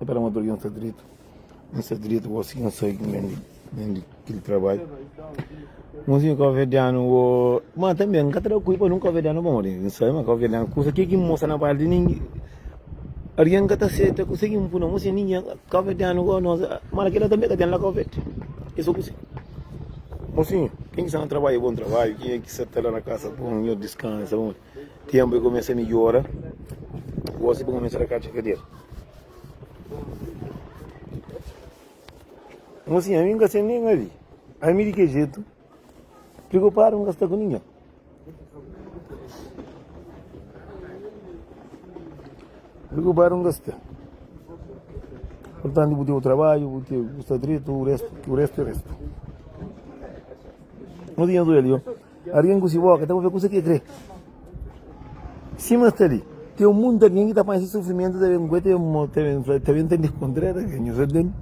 É pa da motor ki N sta dretu N sta dretu gosi ki N sai ki N ben ben di kel trabadju Ngunzinhu káuverdianu Ô, má tanbê N ka ta da kulpa nun káuverdianu Pamodi N sabe ma káuverdianu kusa ke ki N mostra na bai di nin algen ka ta seta kuse ki N pui na mos di ningen káuverdianu gosi nos má kela tanbê ka ten la káuverde é so kuse Mosinhu ken ki sta na trabadju bon trabadju ken ki sa ta la na kasa bon nhos diskansa Ténpu é kumesa midjora. Gósi bu kumesa ta katxa kadeira. Mosinha, ami N ka sen nen avi. Ami di ke jetu priokupadu N ka sta ku ningen. Priokupadu N ka sta. Portantu bu ten bu trabadju, bu ten, bu sta dretu, u restu, u restu é restu. Mosinha, zuel yo. Algen ku se boka ta pâpia kusa ki el krê. Sima sta li, ten un monti di algen ki ta panha se sufrimentu ta ben gosi, ta ben ta kontra el. Algen nhos orden.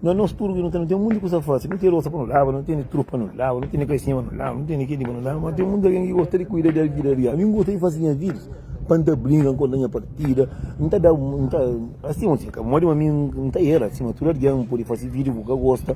Má nos tudu ki nu ten monti kusa pa faze, nu ten losa pa nu laba, nu ten trus pa nu laba, nu ten kaixinha pa nu laba, nu ten kel-li pa nu laba. Má ten monti algen ki gosta di kuida di vida algen. Ami N gosta di faze nha vida pa N ta brinka, N konta nha partida, N ta da un. N ta. Modi ma mi N ta era, sima tudu algen, N pode faze vida ki bu ka gosta.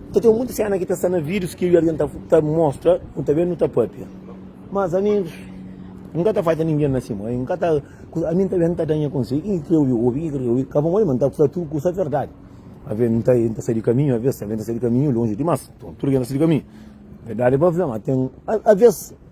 Ta ten mutu sena ki ta sta na videos ki eu e Arjan ta ta mostra, nu ta ben nu ta papia. Mas ami N ka ta fai pa ningen na sima, N ka ta ku ami N ta ben ta da nha konsei, ki ki eu obi, ki ki eu obi, ka pamodi ma N ta fla tudu kusa verdadi. Aves N ta N ta sai di kaminhu, aves tanbe N ta sai di kaminhu lonji dimas, tudu ki N ta sai di kaminhu verdadi pa fla ma ten aves.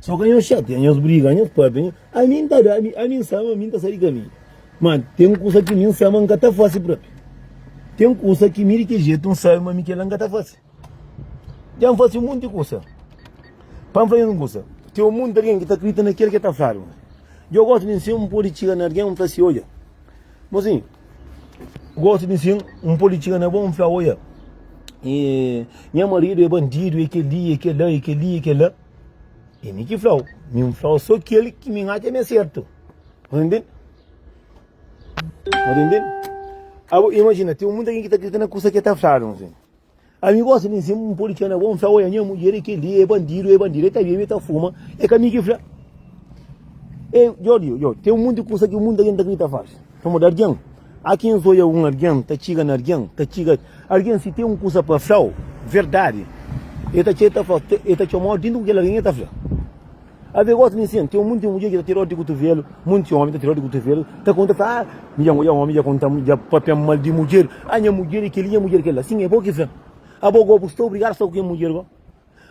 Só ka nhos xatia, nhos briga, nhos pâpia, nhos. Ami N ta da, ami, ami N sa ma mi N ta sai di kaminhu. Má ten kusa ki mi N sa ma N ka ta fase própi. Ten kusa ki mi di ki jetu N sabe ma mi kel-la N ka ta fase. Dja N fase monti kusa. Pa N fla-nhos un kusa, ten monti algen ki ta kridita na kel ki el ta fladu. Dja gosi di nsin N pode txiga na algen N fla si, Odja, bo si gosi di nsin N pode txiga na bo N fla, Odja, e nha maridu é bandidu, é kel-li, é kel-la, é kel-li, é kel-la. E mi ki flau, mi n flau so kel ki mi n atxa mi é sertu. Pode ntende? Pode ntende? Abo, imagina, tem muita gente que está acreditando na coisa que está falando, assim. A mim gosta de dizer, um policial é bom, fala, olha, minha mulher é aquele, é bandido, é bandido, é tá bem, é tá fuma, é caminho que fala. É, Jorge, Jorge, tem muita coisa que muita gente acredita faz. Vamos dar dinheiro. Há quem zoia um alguém, ta txiga na alguém, ta txiga alguém si tem um kusa pa flau, verdade el ta txê ta flau, el ta txomau dentro ku kel alguém el ta fla. Ave gosi mi sen, tem um monte de mulher ki ta tira odi di kutuvelu, monte homem ta tira odi di kutuvelu, ta conta fla, ah, mi dja ngoia homem dja conta dja papia mal di mulher, ah nha mulher é kel li nha mulher é kel la, sim é bo ki fla, abo go bu sta obrigado sta ku kel mulher go?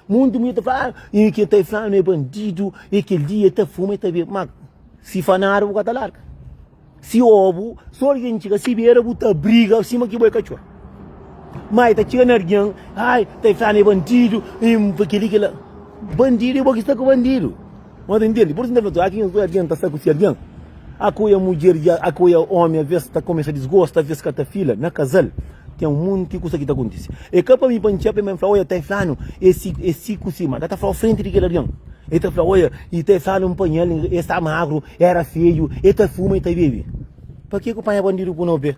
Muitu mui ta fla, ah, e ke ta e flanu e bandidu, e kel li e ta fuma, e ta bebe. Ma, si fa nada bu ka ta larga. Si o bu, si algin tchiga si bera bu ta briga sima ki bo e katxor. Ma e ta tchiga na argin, ai, ta e flanu e bandidu, e fla kel li, kel la. Bandidu e bo ki sta ku bandidu. No ta intende, pur sinta fla, Akinha ku algen ta sta ku si algen, a ku e mudjer dja, a ku e omi aves ta kumesa disgosta, aves ka ta fila. Na kazal ten un munti kusa ki ta kuntise. E ka pa mi pa N txepe, ma N fla, Oia, ta e flanu e si, e si ku si, ma ka ta flau frenti di kel algen. E ta fla, Oia, i ta e flanu N panha el, e sta magru, e era feju, e ta fuma, e ta bebe. Pa ke ku panha bandidu ku no pe?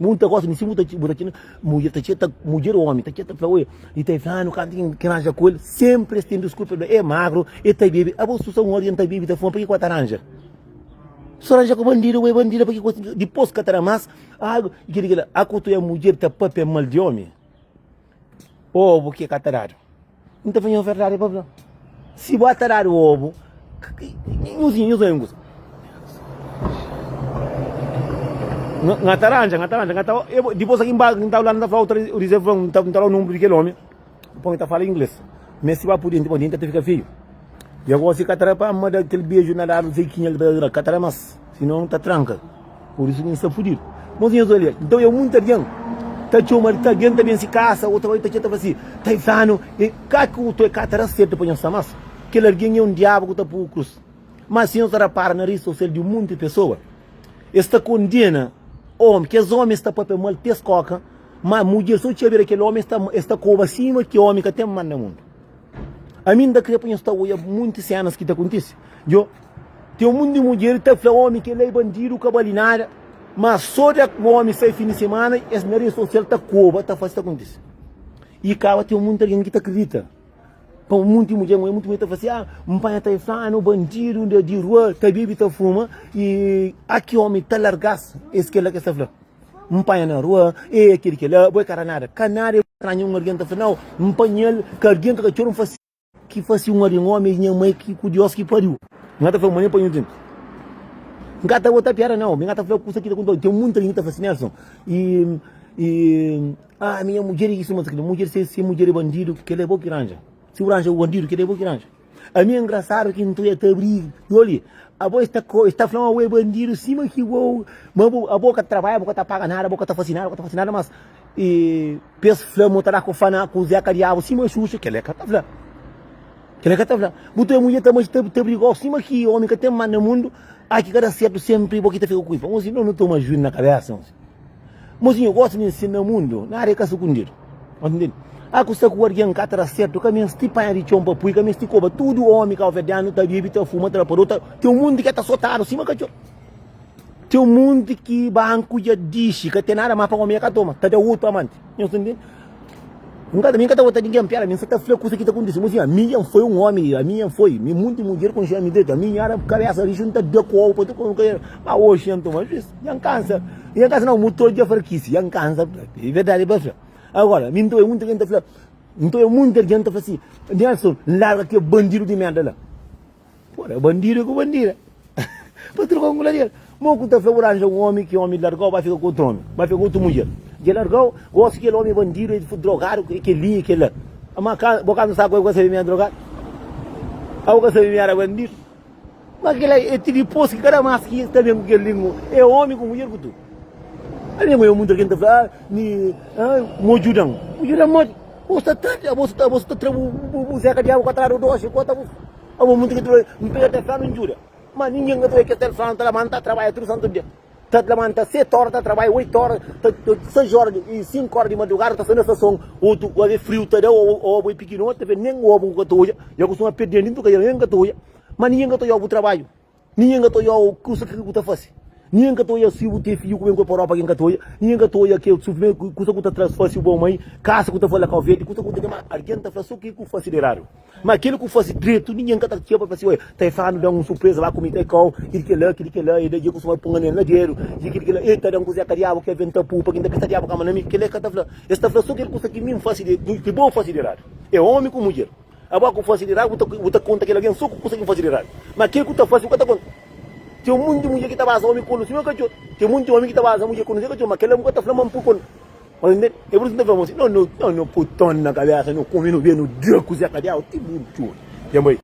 Mun ta gosta mi si bu ta bu ta txina mudjer ta txeta mudjer o omi ta txeta fla oia i ta fla nu kanta ki ki ranja ku el senpri es ten diskursa fla e magru e ta bebe a bo su sa un ora ki el ta bebe i ta fuma pa ki ku a ta ranja so ranja ku bandidu bo e bandidu pa ki ku dipos ka ta da mas agu i kila kila a ku tu e mudjer ta papia mal di omi Obu ki ka ta dadu. N ta fla nha verdadi pa bla. Si bo ta dadu obu, nhos nhos nhos nhos. Nga ta ranja, nga ta ranja, nga ta. Depois aqui embaixo, não está lá, não está falando, o dizer, não está lá o número daquele homem. Põe, está falando inglês. Mas se vai por dentro, por dentro, até fica feio. E agora si ka tra pa ama da kel beju na dadu sei kinha ki ta tra ka tra mas si non ta tranka por isu mi sta fudidu mon si nhos olia nton e munti algen ta txoma li ta algen ta ben si kasa otu algen ta txeta fla si ta izanu e ka ki otu e ka ta da serti pa nhos sta mas kel algen e un diabu ku ta pugu krus mas si nhos ta rapara na ris sosial di munti pesoa e sta kondena omi kes omi e sta papia mal pes koka ma mudjer so txabira kel omi e sta koba sima ki omi ka ten mal na mundu. A mim da kre pa nhos ta oia munti senas ki ta kontisi. Jo, tem um monte de mulher ta fla homem que ele é bandido, que vale nada, mas só de o homem sair fim de semana, es na rede social ta coba, ta faz, ta acontece. E caba tem um monte de alguém que ta acredita. Pa um monte de mulher, mulher muito mulher ta fala assim, ah, um pai ta inflando, bandido de, de rua, ta bebe, ta fuma, e aqui homem ta largasse, esse que é lá que está falando. N panha na rua, ê ki di kel-la, bo é ka ra nada. Ka nada é stranha un argen ta fla, nau, N panha-l, ka argen ta ka txor-m fasi. Ki fasi un argen ómi é nha mai ki ku Diós ki pariu. N ka ta fla ma nen pa nhos djuntu. N ka ta bota piada, nau, mi ka ta fla kusa ki ta konta-u. Ten munti algen ki ta fla si, Nelson, i, i, a minha mudjer é isu, mudjer se, se mudjer é bandidu, kel-la é bo ki ranja. Si bu ranja bu bandidu, kel-la é bo ki ranja. A mi é engraçado ki ntu é ta brig yo li abo es ta es ta fla ma bo é bandido sima ki bo ma bo abo ka trabalha bo ka ta paga nada bo ka ta fasi nada bo ka ta fasi nada mas e pa es fla ma u ta da ku fana ku zeka diabu sima xuxa kela el ka ta fla kela el ka ta fla bu ta mudja ta meste ta brigau sima ki omi ka ten manda mundu aki ka da sertu sempri bo ki ta fika ku i pa nhosi no no toma juidu na kabesa nhosi. Mozinho gosta di ensina mundo nada e ka sukundido. A kusa ku argen ka tra serto, ka mesti panha di txon pa pui, ka mesti koba. Tudu omi kauverdiano ta bibi, ta fuma, ta rapador, ta. Ten un monti ke ta sotado sima katxor. Ten un monti ki banku dja dixi ka ten nada mas pa omi e ka toma, ta da otu amanti. Nhos ta ntende? N ka ta, mi ka ta vota ningen, piada, mi sa ta fla kusa ki ta kontise. Mo siñor, ami N foi un omi, ami N foi, mi monti mudjer konxe ami dretu, ami N era kabesa riju, N ta da ku obu pa tudu omi, ma oxi N toma juiz, dja N kansa, dja N kansa nau, mu todi dja farkise, dja N kansa, e verdadi pa fla. Agora, mi N ta obi monti algen ta fla, N ta obi monti algen ta fla si, Nelson, larga kel bandidu di merda la. Pô, é bandido ku bandida. Pa troka un gladiador. Mo ku ta fla bu ranja un omi ki omi largau bai fika ku otu omi, bai fika ku otu mudjer. Dja largau, gosi kel omi é bandido, é drogadu, é kel-li, é kel-la. Má ka, bo ka nu sa ku el, bu ka sabe mi era drogadu? Ka bu ka sabe mi era bandido? Má kel-la é ti dipôs ki kada más ki ta ben ku kel lingua, é omi ku mudjer ku tudu. Algen ku ben muntra ki el ta fla, ah, mi, ah, mo djuda-m. Bu djuda-m modi? Bo sta tardi, abo sta abo sta tra bu bu bu zeka diabu ka tradu dosi enkuantu abo abo munti ki tra n pega tes fla-m n djuda ma ningen ka ta obi kel tel fla-m ta labanta ta trabadja tudu santu dia ta labanta seti ora ta trabadja oitu ora ta ta sais ora di i sinku ora di madrugada ta sai na stason otu o ve friu ta da o o obu e pikinoti ta ve nen obu ku ka ta odja ya kustuma perdel di ntuka ya nen ka ta odja ma ningen ka ta odja obu trabadju. Ninhen ka ta oiá u kusa ke ku ta fase. Ninhen ka ta oiá si bu ten fidju ku ben ku el pa Europa, gen ka ta oiá. Ninhen ka ta oiá ke su primeru ku kusa ku ta traz fase, u bom mai, kasa ku ta fala kau verde, kusa ku ta kema. Argen ta fla so ke ku fase de eradu. Ma keli ku fase dretu, ninhen ka ta txia pa fase. Oia, ta e fla nu da un surpresa la ku mi, ta e kau, ki di kela, ki di kela, e da dje ku su mai pun anel na dedu, dje ki di kela, e ta da un kuzeka diabu ke ben ta pu pa ki nta pisa diabu kama na mi. Kela e ka ta fla. Es ta fla so kel kusa ki mi nfase de, ki bo fase de eradu. E omi ku mudjer. Abo ku fase di rabi bu ta konta kel algen so ku kusa ki bu fase di rabi, ma kel ku ta fase bu ka ta konta. Ten monti di mudjer ki ta basa omi konu si no ka txor, ten monti di omi ki ta basa mudjer konu si e ka txor, ma kel-la bu ka ta fla ma npu konu. Mas N tende, e pur isu N ta fla ma si no no txor, no pui ton na kabesa, no kume, no bia, no dia kuze ka dia, o ti bu txor. Tenba e.